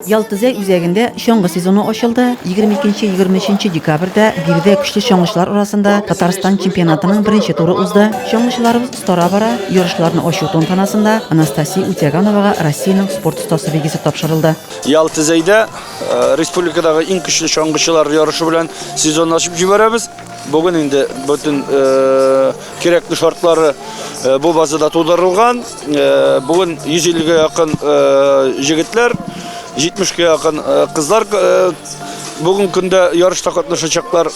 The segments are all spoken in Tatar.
Ялтүзәй үзәгендә чаңгы сезоны ачылды. Егерме икенче, егерме өченче декабрьдә биредә көчле чаңгычылар арасында Татарстан чемпионатының беренче туры узды. Чаңгычыларыбыз остара бара. Ярышларны ачу тантанасында Анастасия Утяганова-га Россиянең спорт остасы билгесе тапшырылды. Ялтүзәйдә республикадагы иң көчле чаңгычылар ярышы белән сезонны ачып җибәрәбез. Бүген инде бөтен кирәкле шартлары бу базада тудырылган. Бүген 150 га якын җегетләр, 70 га якын кызлар бүгенге көндә ярышта катнашачаклар.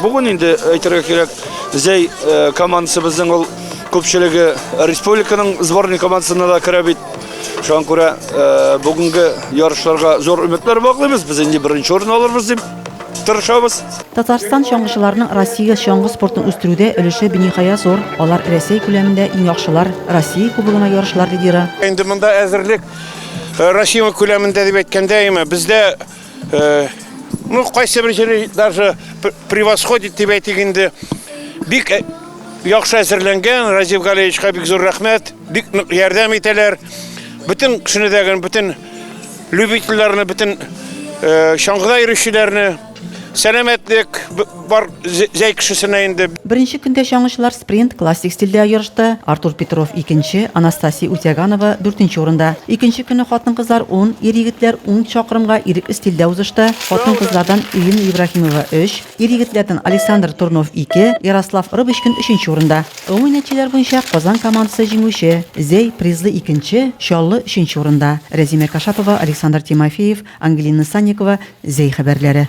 Бүген инде әйтергә кирәк, Зәй командасыбызның ул күпчелеге республиканың сборный командасына да керә бит. Шуңа күрә бүгенге ярышларга зур өметләр баглыйбыз. Без инде беренче урын алырбыз дип тырышабыз. Татарстан чаңгычыларының Россия чаңгы спортын үстерүдә өлеше биниһая зур. Алар Рәсәй күләмендә иң яхшылар, Россия кубогына ярышлар лидеры. Инде монда әзерлек э, Россия күләмендә дип әйткәндә, әмма бездә э, ну кайсы бер җире даже превосходит дип әйтик инде. Бик э, яхшы әзерләнгән Разив Галеевичка бик зур рәхмәт. Бик нык ярдәм итәләр. Бөтен кешене дә, бөтен любительләрне, бөтен э, чаңгыда йөрүчеләрне сәламәтлек бар зәй кешесенә инде. Беренче көндә чаңгычылар спринт классик стильдә ярышты. Артур Петров икенче, Анастасия Утяганова дүртенче урында. Икенче көне хатын-кызлар 10, ир-егетләр 10 чакрымга ирекле стильдә узышты. Хатын-кызлардан Ирина Ибрахимова 3, Ир-егетләрнең Александр Турнов ике, Ярослав Рыбочкин өченче урында. Гомуми нәтиҗәләр буенча Казан командасы җиңүче, Зәй призлы икенче, Чаллы өченче урында. Рәзимә Кашапова, Александр Тимофеев, Ангелина Санникова, Зәй хәбәрләре.